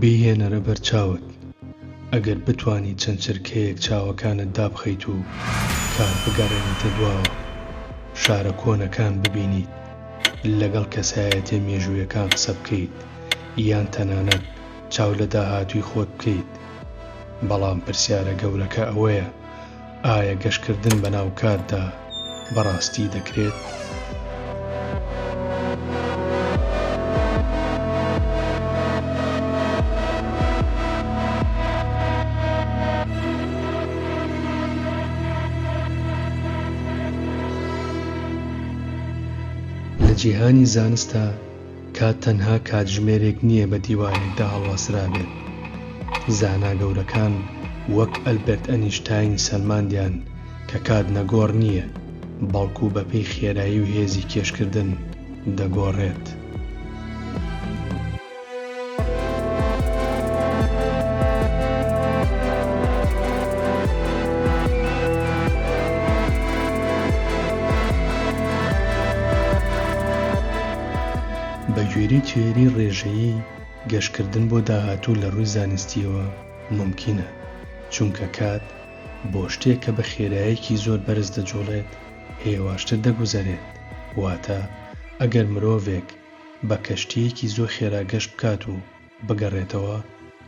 بیهێنەرە بەر چاوت ئەگەر بتانی چەند چرکەیەک چاوەکانت دابخەیت و کات بگەڕێنیتە دواوە شارە کۆنەکان ببینیت لەگەڵ کەسایەتیە مێژوویەکان قسە بکەیت یان تەنانەت چاو لە داهاتووی خۆت بکەیت، بەڵام پرسیارە گەورەکە ئەوەیە ئایا گەشتکردن بەناو کاتدا بەڕاستی دەکرێت؟ لە جیهانی زانستدا کات تەنها کاتژمێرێک نییە بە دیوارێکدا هەڵواسرابێت. زانا گەورەکان وەک ئەلبێرت ئەنیشتاین سەلماندیان کە کات نەگۆڕ نییە، بەڵکو بەپێی خێرایی و هێزی کێشکردن دەگۆڕێت. بەگوێرەی تیۆری ڕێژەیی، گەشتکردن بۆ داهاتوو لە ڕووی زانستییەوە مومکینە، چونکە کات بۆ شتێک کە بە خێرایەکی زۆر بەرز دەجوڵێت هێواشتر دەگوزەرێت، واتە ئەگەر مرۆڤێک بە کەشتییەکی زۆر خێرا گەشت بکات و بگەڕێتەوە،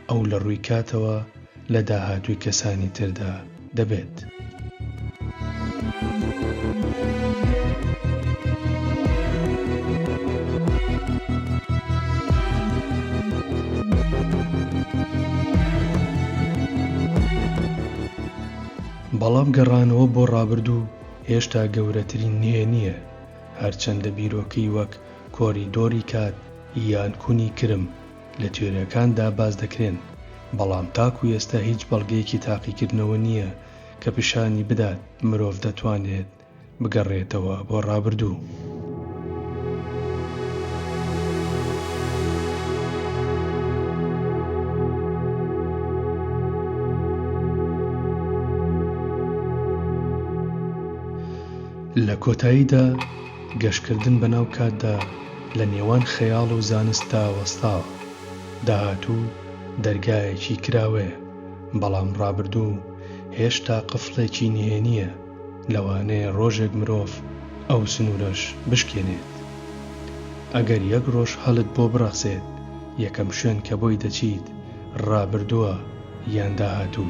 ئەو لە ڕووی کاتەوە لە داهاتووی کەسانی تردا دەبێت. بەڵام گەڕانەوە بۆ ڕابردوو هێشتا گەورەترین نهێنییە، هەرچەندە بیرۆکەی وەک کۆریدۆری کات یان کونی کرم لە تیۆریاکاندا باس دەکرێن، بەڵام تاکو ئێستا هیچ بەڵگەیەکی تاقیکردنەوە نییە کە پیشانی بدات مرۆڤ دەتوانێت بگەڕێتەوە بۆ ڕابردوو. لە کۆتاییدا گەشتکردن بەناو کاتدا لە نێوان خەیاڵ و زانستدا وەستاوە. داهاتوو دەرگایەکی کراوەیە، بەڵام ڕابردوو هێشتا قفڵێکی نهێنییە، لەوانەیە ڕۆژێک مرۆڤ ئەو سنوورەش بشکێنێت. ئەگەر یەک ڕۆژ هەلت بۆ بڕەخسێت، یەکەم شوێن کە بۆی دەچیت ڕابردووە یان داهاتوو؟